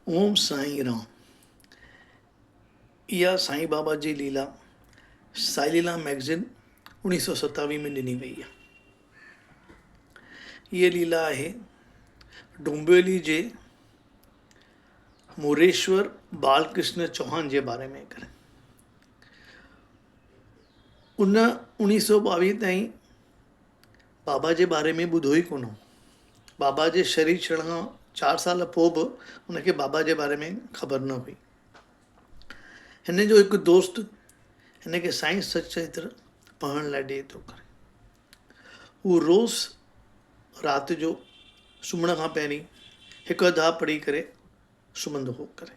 اوم سائين رام اها سائين بابا جي ليلا سائي ليلا مئگزين اوڻيهه سؤ ستاوي ۾ ڏني وئي آهي هيء ليلا آهي ڊومبيولي جي موريشور بال ڪرشن چوهان جي باري ۾ ڪري ان اوڻيهه سؤ ٻاويهه تائين بابا جي باري ۾ ٻڌو ئي ڪونه هو. بابا جي شھيد ڇڙڻ کان چار سال پوء به هن کي بابا جي باري ۾ خبر نه هئي. هن جو هڪ دوست هن کي سائين سچ چريتر پڙهڻ لاء ڏئي ٿو ڪري. هو روز رات جو سمهڻ کان پهرين هڪ اڌ اھا پڙهي ڪري سمهندو هو ڪري.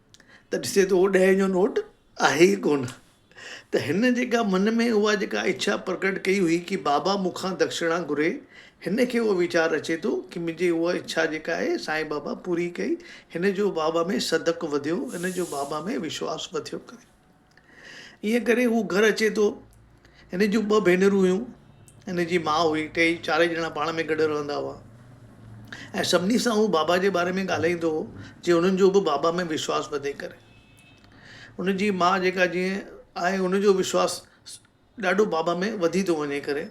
ته ڏسي ته اهو ڏهين جو نوٽ آهي ئي ڪونه. ته هن جيڪا من ۾ اها جيڪا اڇا پرگٽ ڪئي هئي ڪي بابا مون کان دکشڻا گهري، هن کي اهو ويچار اچي ٿو ڪي منهنجي اها اڇا جيڪا آهي سائين بابا پوري ڪئي، هن جو بابا ۾ صدق وڌيو، هن جو بابا ۾ وشواس وڌيو ڪري. انهيء ڪري هو گهر اچي ٿو. هن جون ٻه ڀينرون هيون. هن جي ماء هئي. ٽيئي چارئي ڄڻا پاڻ ۾ گڏ رهندا هئا ۽ سڀني سان هو بابا جي باري ۾ ڳالهائيندو هو جيئن هنن جو به بابا ۾ وشواس وڌي ڪري. هن جي ماء جيڪا جيئن آهي هن جو وشواس ڏاڍو بابا ۾ وڌي ٿو وڃي ڪري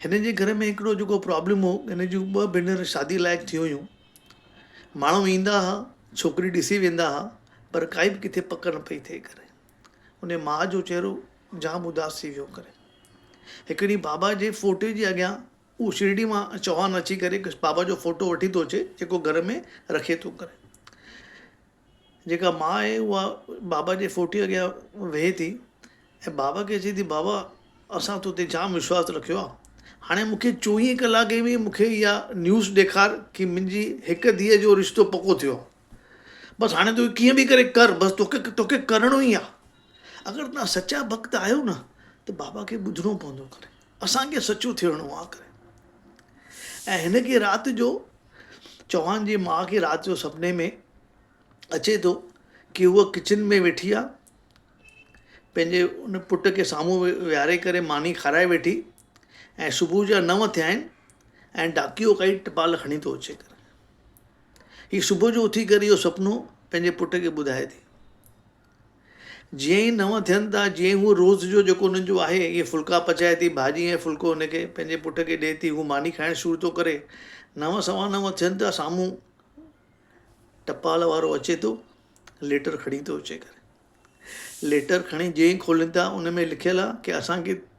هن جي گهر ۾ هڪڙو جيڪو پرابلم هو هن جون ٻه ڀينر شادي لائق ٿي هيون ماڻهو ايندا ها ڇوڪري ڏسي ويندا ها پر ڪائي به ڪٿي پڪ نه پئي ٿئي ڪري ان ماء جو چهرو جام اداس ٿي ويو ڪري هڪ ڏينهن بابا جي فوٽي جي اڳيان هو شرڙي مان چوهان اچي ڪري بابا جو فوٽو وٺي ٿو اچي جيڪو گهر ۾ رکي ٿو ڪري جيڪا ماء آهي اها بابا جي ڦوٽي اڳيان ويهي ٿي ۽ بابا کي چئي ٿي بابا اسان تو تي جام وشواس رکيو آهي هاڻي مونکي چوويهه ڪلاڪن ۾ مونکي اها نيوز ڏيکار ڪي منهنجي هڪ ڌيء جو رشتو پڪو ٿيو آهي بس هاڻي تو ڪيئن به ڪري ڪر بس توکي توکي ڪرڻو ئي آهي اگر تون سچا ڀڳت آهيو نه ته بابا کي ٻڌڻو پوندو ڪري اسان کي سچو ٿيڻو آ ڪري ۽ هن کي رات جو چوهان جي ماء کي رات جو سپني ۾ اچي ٿو ڪي هوء ڪچن ۾ ويٺي آ پنهنجي ان پٽ کي سامهون ويهاري ڪري ماني کارائي ويٺي ۽ صبح جا نو ٿيا آهن ۽ ڊاڪيو ڪائي ٽپال کڻي ٿو اچي ڪري هي صبح جو اٿي ڪري اهو سپنو پنهنجي پٽ کي ٻڌائي ٿي جيئن ئي نو ٿين ٿا، جيئن ئي هوء روز جو جيڪو هن جو آهي، اهي ڦلڪا پچائي ٿي، ڀاڄي ۽ ڦلڪو هن کي، پنهنجي پٽ کي ڏئي ٿي، هو ماني کائڻ شروع ٿو ڪري. نو سوا نو ٿين ٿا، سامهون ٽپال وارو اچي ٿو، ليٽر کڻي ٿو اچي ڪري. ليٽر کڻي جيئن ئي کولين ٿا، ان ۾ لکيل آهي ڪي اسان کي،